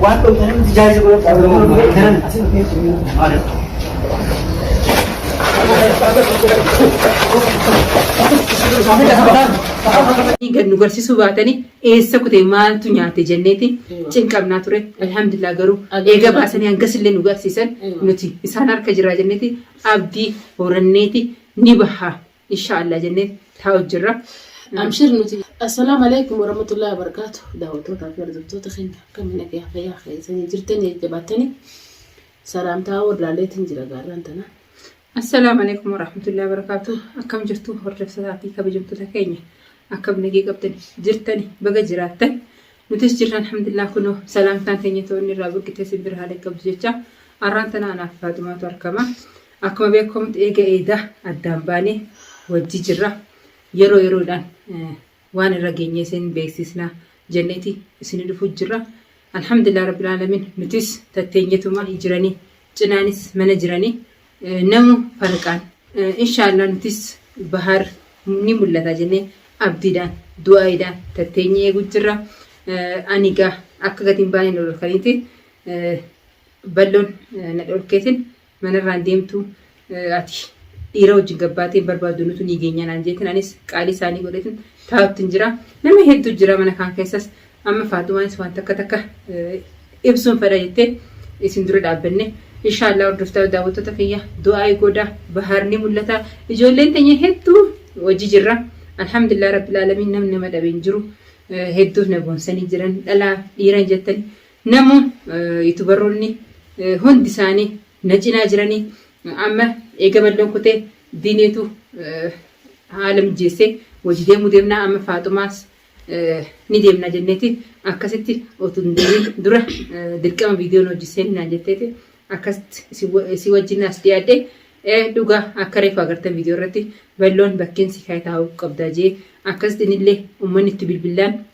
Waan dhootan hin jijaaji Kan nu garsiisuu baatanii eessa kutee maaltu nyaate jenneeti cinqamnaa ture. Alhamdulillah garuu eega baasanii hangas illee nu garsiisan nuti isaan harka jiraa jenneeti abdii horanneeti ni baha inshaa Allah jennee taa'u jirra. Amshir nuti. Assalaamu alaikum warahmatullahi wabarakatuh. Daawwattootaa fi hordoftoota keenya akkamiin nagaa fayyaa keessanii jirtanii jabaattanii salaamtaa wallaalleetiin jira gaarraan tana. Assalaamu alaikum warahmatullahi wabarakatuh. Akkam jirtu hordoftotaa fi kabajamtoota keenya akkam nagee qabdan jirtani baga jiraattan nutis jirra alhamdulillah kunoo salaamtaan keenya toonni irraa buqqitee simbira haala qabdu jecha arraan tana anaaf faatumaatu argama. Akkuma beekkamu eega eeda addaan baane wajji jirra. Yeroo yeroodhaan waan irra geenye isin beeksisna jenneeti isini dhufu jirra. Alhamdulillah Rabbil Aalamiin nutis tatteenyetuma jirani cinaanis mana jirani namu farqaan inshaallah nutis bahaar ni mul'ata jennee abdiidhaan du'aayiidhaan tatteenye eegu jirra. Ani gaa akka gatiin baaneen ol kaniiti balloon na dhorkeetin Manarraa hin deemtu ati dhiira wajjin gabbaatee hin barbaaddu nutu ni geenya naan jeetin anis qaalii isaanii godhetin taa'uttin jira. Nama hedduu jira mana kaan keessas amma Faaxumaanis waan takka takka ibsuun fedha jettee isin dura dhaabbanne. Inshaallah hordoftaa daawwattoota kiyya du'aa'ii goodaa bahaar ni mul'ata. Ijoolleen teenya hedduu hojii jirra. Alhamdulillah Rabbil Aalamiin namni nama dhabe hin jiru. Hedduuf na boonsanii jiran dhalaa dhiiran jettan Namu yutubaronni hundi isaani na cinaa jirani amma eega malloon kute diineetu haala mijjeesse wajji deemu deemna amma faaxumaas ni deemna jenneeti akkasitti otu hin deemin dura dirqama viidiyoo nu wajji seeni naan jetteeti akkasitti isii wajjin as dhiyaadhe dhuga akka reefu agartan viidiyoo irratti balloon bakkeen si kaayataa'u qabda jee akkasitti inillee ummanni itti bilbillaan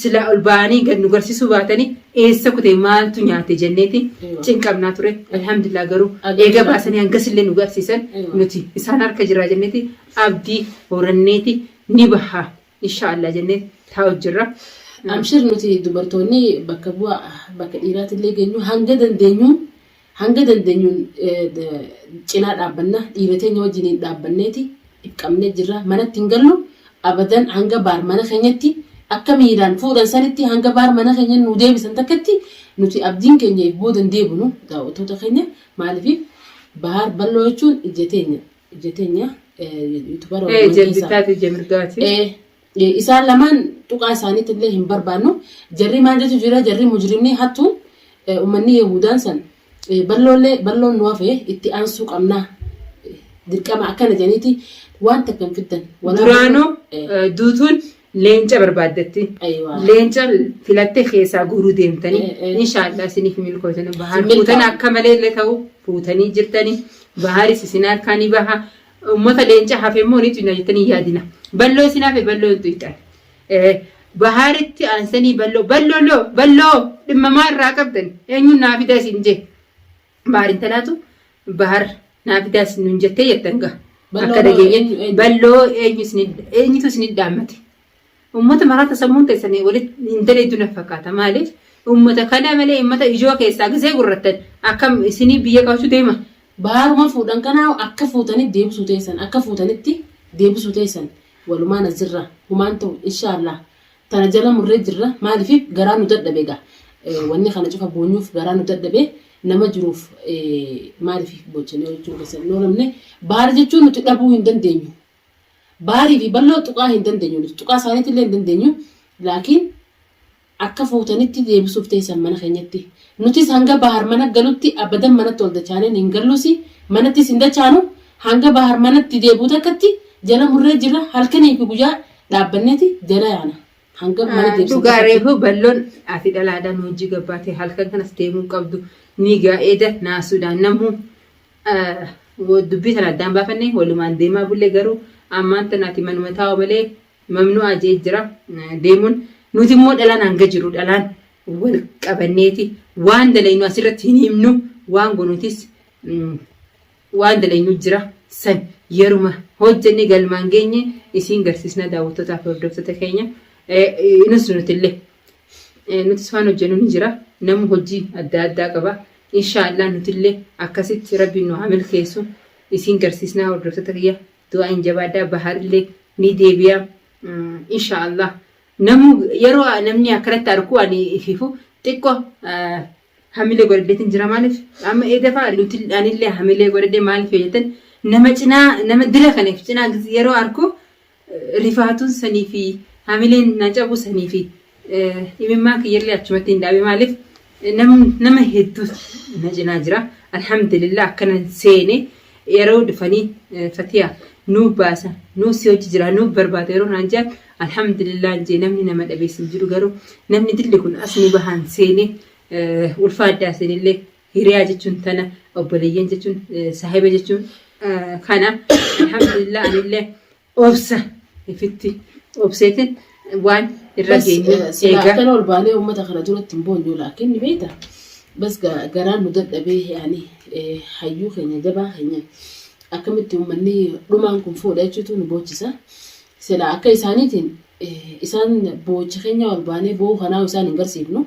Silaa ol ba'anii gad nu garsisuu baatanii eessa kute maaltu nyaate jenneeti cinqamnaa ture. Alhamdulillah garuu eega baasanii hangasillee nu garsiisan nuti isaan harka jirraa jenneeti abdii horanneeti ni baha inshaa Allah jenneeti taa'u jirra. Amshir nuti dubartoonni bakka bu'a bakka dhiiraatillee geenyu hanga dandeenyuun Hanga dandeenyuun cinaa dhaabbanna. Dhiira teenya wajjiniin dhaabbanneeti dhipqamnee jirra. Manatti hin gallu. Abadan hanga baar mana keenyatti akka miiraan fuudhan sanitti hanga baar mana keenya nu deebisan takkatti nuti abdiin keenya if boodan deebinu daawwattoota keenya maaliif baar balloo jechuun ija teenya ija teenya yuutubaara Ee, ija bittaati ija mirgaati. Ee, Isaan lamaan tuqaa isaaniitti illee hin barbaannu. Jarri maaltu jira jarri mujrimni hattu ummanni Yahudaan san balloollee balloon nu hafe itti aansuu qabna dirqama akkana jedhaniiti waan takka hin fiddan. Duraanuu duutuun leenca barbaaddatti. Leenca filattee keessaa guuruu deemtanii. Inshaallah isiniif milkootanii bahaan fuutanii akka malee illee ta'u fuutanii jirtanii. Bahaaris isin harkaa ni baha. Ummata leenca hafe immoo ni tuyna jettanii hin yaadina. Balloo isin hafe balloo hin tuyxan. Bahaaritti aansanii balloo balloo loo balloo dhimma maa irraa qabdan eenyuun naa fidaa isin jee. Bahar intalaatu bahar naa fidaa isin nun jettee jettan gaa. Akka dhageenye balloo eenyu isin eenyutu isin dhaammate. Ummata maraata sammuun teessani walit hin daleeyduu naf fakkaata maalif ummata kana malee ummata ijoo keessaa gisee gurrattan akkam isinii biyya qabachuu deema. Baaruma fuudhan kana akka fuutani deebisuu teessan akka fuutanitti deebisuu teessan walumaan as jirra humaan ta'u inshaallah tana jala murree jirra maalif garaa nu dadhabe ega wanni kana cufa boonyuuf garaa nu dadhabe nama jiruuf maalif boochanii hojjachuu keessan hin oolamne baara jechuun nuti dhabuu hin dandeenyu Baarii fi balloo tuqaa hin dandeenyu nuti tuqaa isaaniitti illee hin dandeenyu laakiin akka fuutanitti deebisuuf teessan mana keenyatti nutis hanga bahar mana galutti abadan manatti ol dachaaneen hin galluusi manattis hin dachaanu hanga bahar manatti deebi'u takkatti jala murree jirra halkanii fi guyyaa dhaabbanneeti jala yaana hanga mana Ah, deebisee Dhugaa takkatti. reefu balloon ati dhalaadhaan hojii gabbaate halkan kanas deemuu hin qabdu ni gaa'eeda naasuudhaan namuu Dubbii tana addaan baafanne walumaan deemaa bulle garuu ammaan tana ati manuma taa'u malee mamnu'aa je'ee jira deemuun. Nuti immoo dhalaan hanga jiru dhalaan wal qabanneeti waan dalaynu asirratti hin himnu waan gonutis waan dalaynu jira san yeruma hojjenne galmaan geenye isiin garsiisnaa daawwattotaa fi hordoftoota keenya inus nutillee nutis waan hojjennu ni jira namu hojii adda addaa qaba Inshaa Allah nutillee akkasitti rabbiin nu haa milkeessu isiin garsiisnaa hordoftoota kiyya du'aa'iin jabaadhaa baharillee ni deebi'a inshaa Allah namuu yeroo namni akkanatti arku ani ififu xiqqo hamilee godhadheetiin jira maaliif amma eedafa nuti anillee hamilee godhadhee maaliif yoo jettan nama cinaa nama dila kaniif cinaa yeroo arku rifaatuun sanii fi hamileen na cabu sanii fi imimmaan kiyyallee achumatti hin dhaabe maaliif nama hedduu na cinaa jira alhamdulillah akkana seene yeroo dhufanii fatiyaa nuu baasa nuu si hojii jira nuu barbaada yeroo naan jaan alhamdulillah jee namni nama dhabeessin jiru garuu namni dilli kun as nu bahaan seene ulfaa addaa seenillee Hiriyaa jechuun tana obboleeyyan jechuun saahiba jechuun kana alhamdulillah anillee obsa ifitti obseetin waan irra geenyu eegaa. Kan ol baanee uummata kana duratti hin boonyu laakiin ni beekta. Bas garaan nu dadhabee yaani hayyuu keenya jabaa keenya akkamitti uummanni dhumaan kun fuudha jechuutu nu boochisa. Silaa akka isaaniitiin isaan boochi keenya ol baanee boo'uu kanaa isaan hin garsiifnu.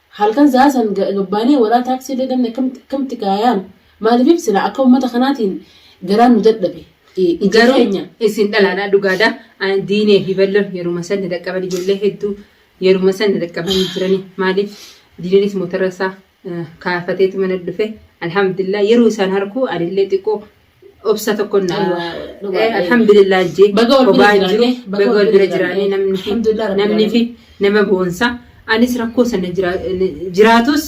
Halkan sa'aa san gabbaanee waraa taaksii illee dhabne akkamitti akkamitti kaa yaanu maaliif silaa akka uummata kanaatiin garaan nu dadhabe ija Garuu keenya. isin dhalaadhaa dhugaadha. An- Diinee fi balloon yeruma san dadhaqqaban ijoollee hedduu yeruma san dadhaqqabanii jiranii maaliif diineenis motora isaa eh, kaafateetu mana dhufe alhamdulillah yeroo isaan harkuu anillee xiqqoo obsa tokko na alhamdulillah jee Baga wal bira kophaa hin jiru jiraanne, baga wal bira jiraanne namni fi Alhamdulillah rabbil namni fi nama boonsa anis rakkoo sana jira- jiraatus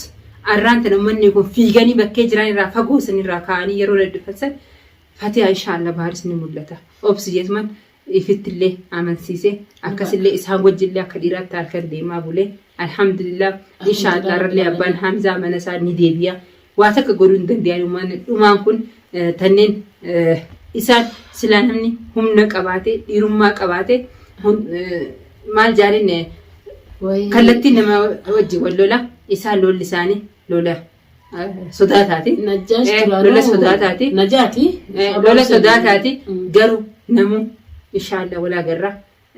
arraan tana uummanni kun fiiganii bakkee jiran irraa fagoo san irraa kaa'anii yeroo daddafan san fatiyaa inshaallah baaris ni mul'ata obsi jeetuman ifittillee amansiise akkasillee isaan wajjillee akka dhiiraatti halkan deemaa bulee alhamdulillah inshaallah rallee abbaan hamzaa mana isaa ni deebi'a waa takka godhuu hin danda'an uumaan dhumaan kun eh, tanneen eh, isaan silaa namni humna qabaate dhiirummaa qabaate hun- eh, maal jaalinne Wayii. kallattiin nama wajji wal lola isaan lolli isaanii lola Sodaataati. Najjaash Eh, duraanuu lola sodaataati. Najaati. Eh, lola sodaataati Mm. garuu namuu inshaallah walaa garraa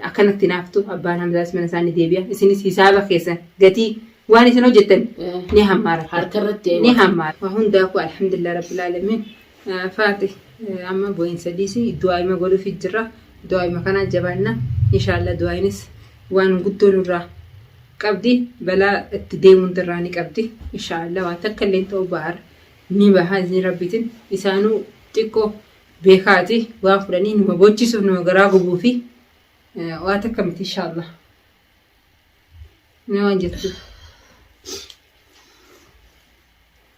akkanatti naaftu abbaan hamzaas mana isaanii deebi'a isinis hisaaba keessan gatii waan isin hojjettan Eh, ni hammaara harka irratti ni hammaara waa hundaafuu alhamdulillah rabbil aalamiin Faati amma boyinsa dhiisi du'aayima godhufi jirra du'aayima kanaa jabaanna inshaalla du'aayinis waan guddoo nurraa qabdi balaa itti deemuun irraa ni qabdi inshaalla waan takka illee ta'u ba'ar ni baha izni rabbiitin isaanuu xiqqoo beekaati waan fudhanii numa boochisuuf numa garaa gubuufi waa takka miti inshaalla ni waan jettu.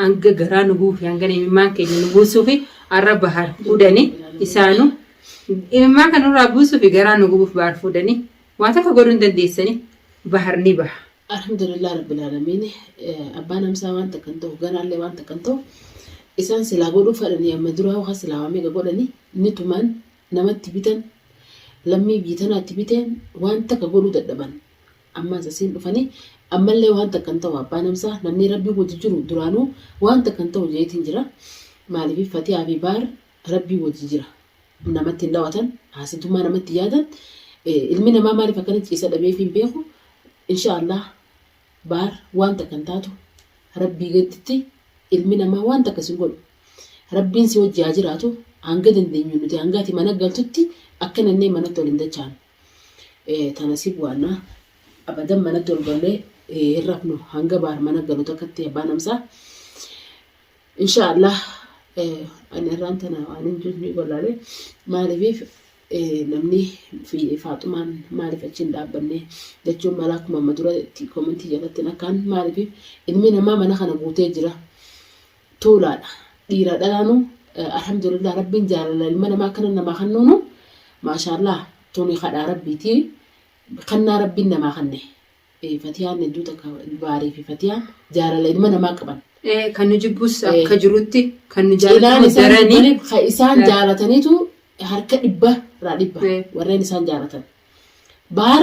hanga garaa nu guufe hanga imimmaan keenya nu buusuufi arra bahar fuudhani isaanu imimmaan kan nurraa buusuufi garaa nu gubuuf bahar fuudhani waa takka godhuu hin dandeessani bahar ni baha. Alhamdulillah Rabbil Aalamiin abbaan amsaa waan takka hin ta'u garaallee waan takka hin ta'u isaan silaa godhuu fadhanii amma duraa hoka silaa waa meeqa godhanii ni tuman namatti bitan lammii biyya tanaatti biteen waan takka godhuu dadhaban Ammas asiin dhufanii ammallee waan takka hin ta'u abbaa namsaa namnii rabbiin wajji jiru duraanuu waan takka hin ta'u jeetiin jira maaliif fatiyaa fi baar rabbii wajji jira namatti hin dhawatan haasintummaa namatti yaadan ilmi namaa maaliif akkana ciisa dhabeef hin beeku insha allah baar waan takka hin taatu rabbii gadditti ilmi namaa waan takka sin godhu rabbiin si wajji haa jiraatu hanga dandeenyu nuti hangaati mana galtutti akka nannee manatti ol hin dachaanu. Ee, tana si bu'anna. Abadan manatti ol gallee ee, hin rafnu hanga baar mana galu takkatti abbaan amsaa. Insha Allah ee, ani irraan tana waan hin jirre ni gollaalee maaliif ee, namni fi faaxumaan maaliif achi hin dhaabbanne jechuun mala akkuma amma dura itti komentii jalattiin akkaan maaliif ilmi namaa mana kana guutee jira. tuulaadha dhiiraa dhalaanu alhamdulillah rabbiin jaalala ilma namaa akkana namaa kannuunu maashaallah tuni kadhaa rabbiiti kannaa rabbiin namaa kanne fatiyaan hedduu takka baarii fi fatiyaan jaalala ilma namaa qaban kan nu jibbus akka jirutti kan nu jaalatan daranii isaan jaalataniitu harka dhibba irraa dhibba warreen isaan jaalatan baar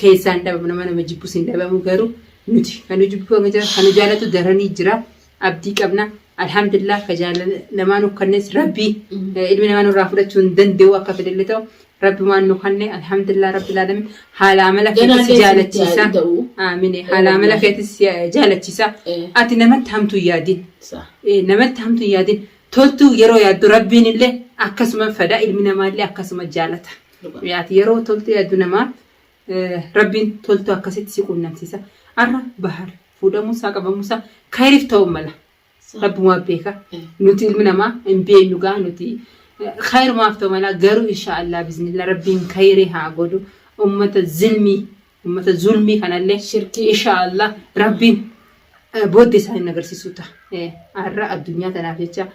keessaan dhabamu nama nama jibbus hin dhabamu garuu nuti kan nu jibbu hanga jira kan nu jaalatu daranii jira abdii qabna alhamdulillah ka jaalala namaa nu kannes rabbii eh, ilmi namaa nurraa fudhachuu hin danda'u akka fedhelle ta'u rabbi waan nu kanne alhamdulillah rabbi laalami haala amala Ganaa keetis si keessa jaalachiisa itti ta'u. aamine haala amala keetis si eh, jaalachiisa Eh. ati namatti hamtuu hin yaadin Sa. Eh, namatti hamtu hin yaadin toltuu yeroo yaaddu rabbiin illee akkasuma fada ilmi namaa illee akkasuma jaalata Ati yeroo toltee yaaddu namaaf rabbiin toltuu akkasitti si quunnamsiisa. Arra bahar fuudhamuusaa qabamuusaa kayriif ta'uu mala. Rabbumaa beeka. Nuti ilmi namaa hin beeknu gaa nuti kayrumaaf ta'u mala garuu inshaa Allah biznillah rabbiin kayrii haa godhu ummata zilmii ummata zulmii kanallee Shirkii. inshaa Allah rabbiin eh, booddee isaa hin agarsiisu ta'a. Eh, Arra addunyaa tanaaf jecha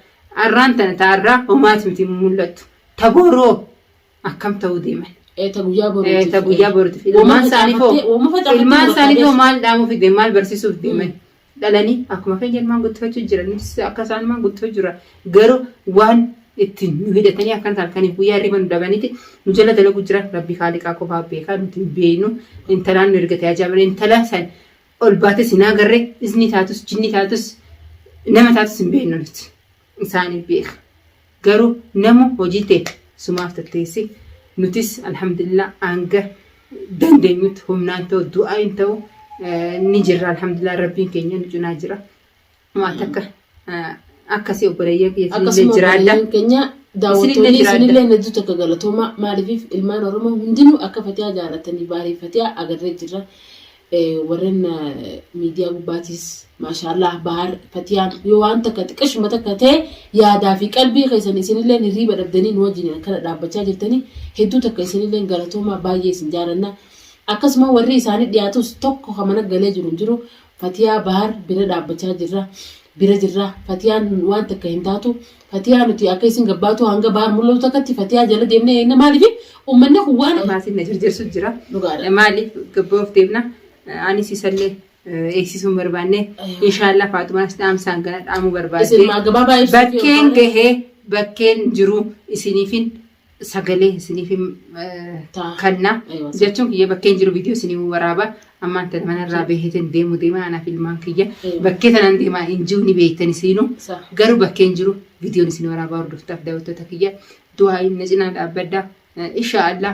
arraan tana ta arraa homaati miti mul'attu. Ta boroo akkam ta'uu deeman. Eh, ta guyyaa Eh, boruutiif. ta guyyaa boruutiif. Woma Ilmaan isaaniif hoo- facaafattee- woma facaafattee ilmaan bakka isaaniif hoo geessu. maal dhaamuuf deeman maal barsiisuuf deeman dhalanii akkuma keenya ilmaan guddifachuu jira nutis akka isaan ilmaan guddifachuu jira garuu waan ittiin nu hidhatanii akkan isaan kaniif guyyaa hirriba nu dhabaniiti nu jala dalaguu jira rabbii haaliqaa qofaa beekaa nuti hin beeknu intalaan nu ergate ajaa'ibaa intala san ol baates hin agarre isni taatus jinni taatus nama taatus hin beeknu nuti. isaani beeka garu nama hojii tee sumaaf tatteessi nutis alhamdulillah hanga dandenyutti humnaan ta'u du'aayin ta'u ni jirra alhamdulillah rabbiin keenya nu cinaa jira waan takka akkasii obboleeyyan kiyya isinillee akkasuma jiraadha obboleeyyan keenya Isinillee daawwattoonni jiraadha. isinillee hedduu takka galatoomaa maaliif ilmaan oromoo hundinuu akka fatiyaa jaalatanii baarii fatiyaa agarree jirra Warren miidiyaa gubbaatiis maashaallaah Bahar Fatiyaan yoo waan takka xiqqashuma takka ta'e yaadaa fi qalbii keessan isinilleen hirriiba dhabdanii nu wajjin akkana dhaabbachaa jirtanii hedduu takka isinilleen galatoomaa baay'ee isin jaalanna. Akkasuma warri isaanii dhiyaatus tokko kan mana galee jiru hin jiru Fatiyaa Bahar bira dhaabbachaa jirra bira jirra Fatiyaan waan takka hin taatu Fatiyaa nuti akka isin gabbaatuu hanga baar mul'atu takkatti fatiyaa jala deemnee eenna maaliif uummanni kun waan Maatiin na jirjirsu jira. dhugaadha. Maaliif gabboof deemna? Anis isallee eegsisuun barbaanne. Inshaallah Faatumaas dhaamsaan gana dhaamuu barbaadde. Isin maa gabaabaa ibsuuf Bakkeen gahee bakkeen jiru isiniifin sagalee isiniif hin Taa. kanna Eewa, sa- jechuun kiyya bakkeen jiru viidiyoo isinii waraaba ammaan tana manarraa beekeetiin deemu deema anaaf ilmaan kiyya Eewa. bakkee tanan deemaa hin jiru ni beektan isiinuu sa- garuu bakkeen jiru viidiyoon isin waraabaa hordoftaaf daawwattoota kiyya du'aa inni cinaa dhaabbadda insha Allah